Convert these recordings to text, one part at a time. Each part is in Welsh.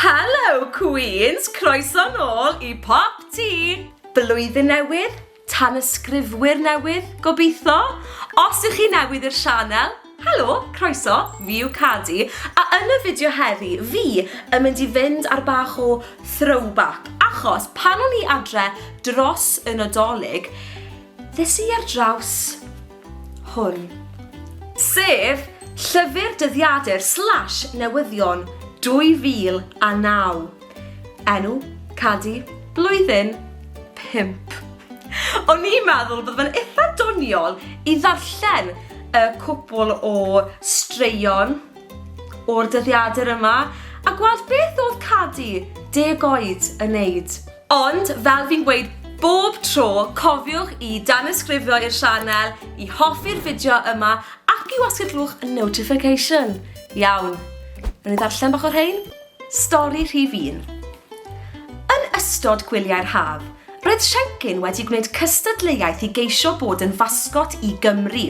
Helo Cwîns! Croeso nôl i Pop Tee! Blwyddyn newydd, tanysgrifwyr newydd, gobeithio! Os ych chi newydd i'r sianel, helo, croeso, fi yw Cadi, a yn y fideo heddi fi yn mynd i fynd ar bach o throwback, achos pan o'n i adre dros y Nadolig, ddes i ar draws hwn. Sef, Llyfr Dyddiadur slash Newyddion 2009. Enw, Cadi, Blwyddyn, Pump. O'n i'n meddwl bod fe'n eitha doniol i ddarllen y cwpl o straeon o'r dyddiadur yma a gweld beth oedd Cadi deg oed yn neud. Ond, fel fi'n gweud bob tro, cofiwch i danysgrifio i'r sianel, i hoffi'r fideo yma ac i wasgu'r clwch notification. Iawn, wnawn ni ddarllen bach o rhein? Stori rhif un. Yn ystod gwyliau'r haf, roedd Siencyn wedi gwneud cystadleuaeth i geisio bod yn fasgot i Gymru.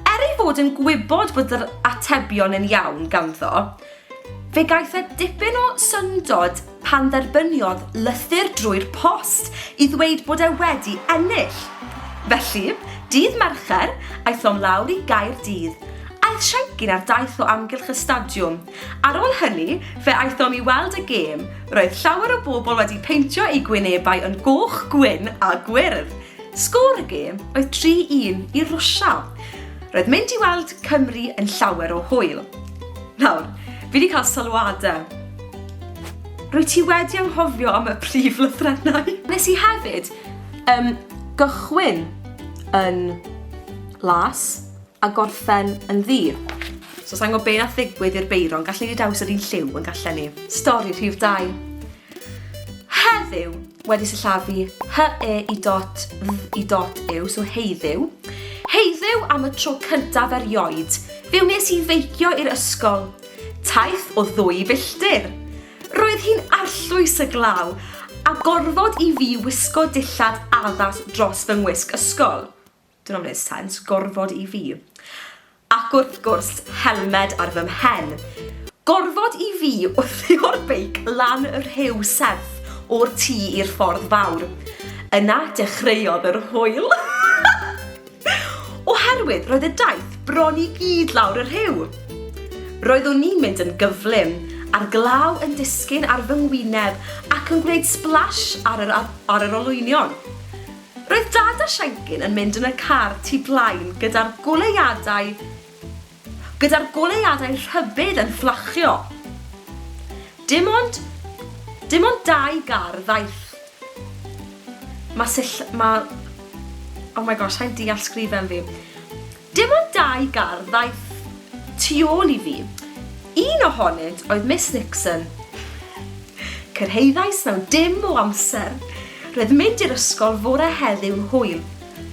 Er ei fod yn gwybod bod yr atebion yn iawn ganddo, Fe gaeth e dipyn o syndod pan dderbyniodd lythyr drwy'r post i ddweud bod e wedi ennill. Felly, dydd Mercher, aethom lawr i Gaerdydd. Aeth Siencyn ar daith o amgylch y stadiwm. Ar ôl hynny, fe aethom i weld y gêm. Roedd llawer o bobl wedi peintio eu gwynebau yn goch, gwyn a gwyrdd. Sgôr y gêm oedd 3-1 i Rwsia. Roedd mynd i weld Cymru yn llawer o hwyl. Nawr, fi wedi cael sylwadau. Rwy ti wedi anghofio am y prif lythrennau. Nes i hefyd um, gychwyn yn las a gorffen yn ddi. So sa'n gwybod be na ddigwydd i'r beiron, gallen ni dewis yr un lliw yn gallen ni. Stori rhif 2. Heddiw, wedi sillafu hy e i dot dd i dot yw, so heiddiw. Heiddiw am y tro cyntaf erioed, fe wnes i feicio i'r ysgol. Taith o ddwy filltir! Roedd hi'n arllwys y glaw, a gorfod i fi wisgo dillad addas dros fy ngwisg ysgol. Dyna wneud sens, gorfod i fi. Ac wrth gwrs, helmed ar fy mhen. Gorfod i fi wthio'r beic lan y rhew serth o'r tŷ i'r ffordd fawr. Yna, dechreuodd yr hwyl. Oherwydd roedd y daith bron i gyd lawr y rhew. Roeddwn ni'n mynd yn gyflym, a'r glaw yn disgyn ar fy ngwyneb ac yn gwneud splash ar yr, ar yr olwynion. Roedd Dad a Siencyn yn mynd yn y car tu blaen gyda'r goleuadau gyda'r goleuadau rhybudd yn fflachio. Dim ond, dim ond dau gar ddaeth. Mae sill... Mae... Oh my gosh, sa'n deall sgrifen fi. Dim ond dau gardd ddaeth tu ôl i fi. Un ohonynt oedd Miss Nixon. Cyrhaeddais mewn dim o amser. Roedd mynd i'r ysgol fore heddiw'n hwyl.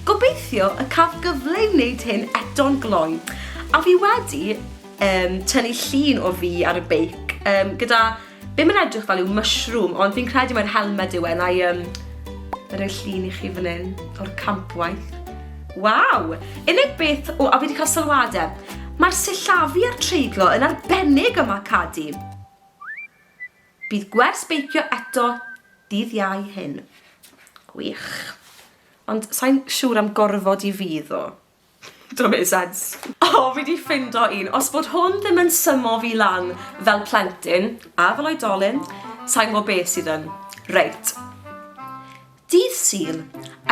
Gobeithio y caf gyfle i wneud hyn eto'n gloi. A fi wedi yym tynnu llun o fi ar y beic yym gyda Ddim yn edrych fel yw mushroom, ond fi'n credu mai'r helmed yw e, na i um, fe roi llun i chi fan hyn, o'r campwaith. Waw! Unig beth, o, a fi wedi cael sylwadau. Mae'r sillafu a'r treiglo yn arbennig yma, Cadi. Bydd gwers beicio eto dydd iau hyn. Gwych. Ond sa'n siŵr am gorfod i fi ddo. Don't make sense. O, fi di ffindo un. Os bod hwn ddim yn symo fi lan fel plentyn, a fel oedolyn, sa'n gwybod beth sydd yn. Reit. Dydd Sul,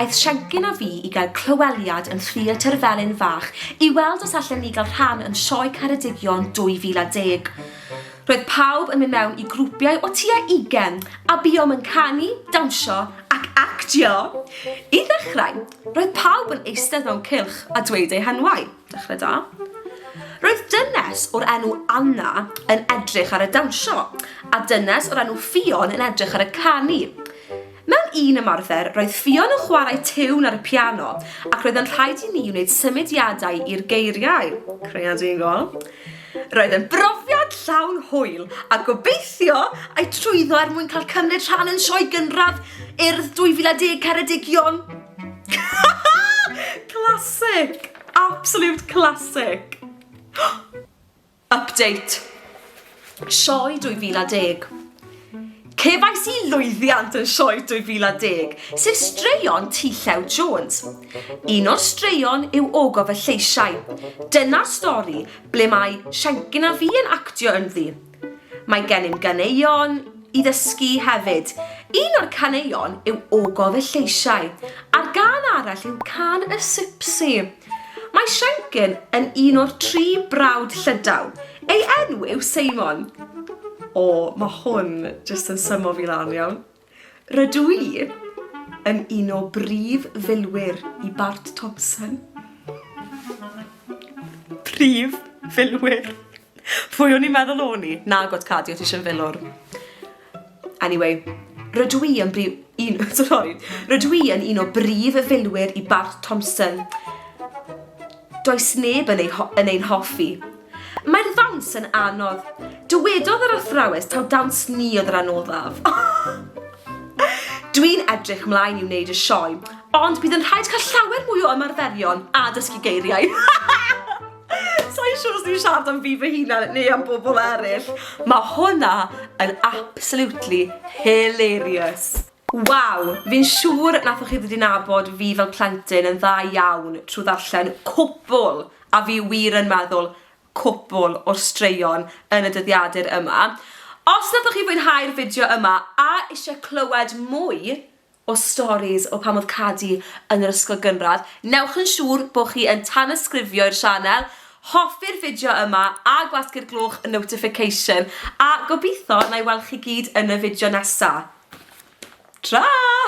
aeth Siencyn a fi i gael clyweliad yn Theatr Felin Fach i weld os allen ni gael rhan yn Sioe Caredigion 2010. Roedd pawb yn mynd mewn i grwpiau o tua 20 a buom yn canu, dawnsio ac actio. I ddechrau, Roedd pawb yn eistedd mewn cylch a dweud eu henwau. Dechrau da. Roedd dynes o'r enw Anna yn edrych ar y dawnsio, a dynes o'r enw Ffion yn edrych ar y canu. Mewn un ymarfer, roedd Ffion yn chwarae tiwn ar y piano, ac roedd yn rhaid i ni wneud symudiadau i'r geiriau. Creadigol. Roedd yn brofiad llawn hwyl a gobeithio a'i trwyddo er mwyn cael cymryd rhan yn sioe gynradd Urdd 2010 Ceredigion. Classic! Absolute classic! Update. Sioe 2010. Cefais i lwyddiant yn Sioe 2010, sef straeon T Llew Jones. Un o'r straeon yw Ogof y Lleisiau. Dyna'r stori ble mae Siencyn a fi yn actio ynddi. Mae gennym ganeuon i ddysgu hefyd. Un o'r caneuon yw Ogof y Lleisiau, a'r gân arall yw Cân y Sipsi. Mae Shenkin yn un o'r tri brawd llydaw. Ei enw yw Seimon. O, mae hwn jyst yn symo fi lan iawn. Rydw i yn un o brif filwyr i Bart Thompson. Prif filwyr. Pwy o'n i'n meddwl o'n i? Nagwt Cadi, o' ti isio filwr. Anyway, rydw i yn brif... un... sori. Rydw i yn un o brif filwyr i Bart Thompson. Does neb yn ei, yn ein hoffi. Mae'r ddawns yn anodd. Dywedodd yr athrawes taw dawns ni oedd yr anoddaf. Dwi'n edrych mlaen i wneud y sioe, ond bydd yn rhaid cael llawer mwy o ymarferion a dysgu geiriau. Sa'n siŵr os ni'n siarad am fi fy hunan neu am bobl eraill. Mae hwnna yn absolutely hilarious. Waw, fi'n siŵr nathoch chi ddod i nabod fi fel plentyn yn dda iawn trwy ddarllen cwpwl, a fi wir yn meddwl cwpwl, o'r straeon yn y dyddiadur yma. Os nathoch chi fwynhau'r fideo yma a eisiau clywed mwy, o storis o pan oedd Cadi yn yr ysgol gynradd, newch yn siŵr bod chi yn tanysgrifio i'r sianel, hoffi'r fideo yma a gwasgu'r gloch notification a gobeithio na i weld chi gyd yn y fideo nesa. Tra!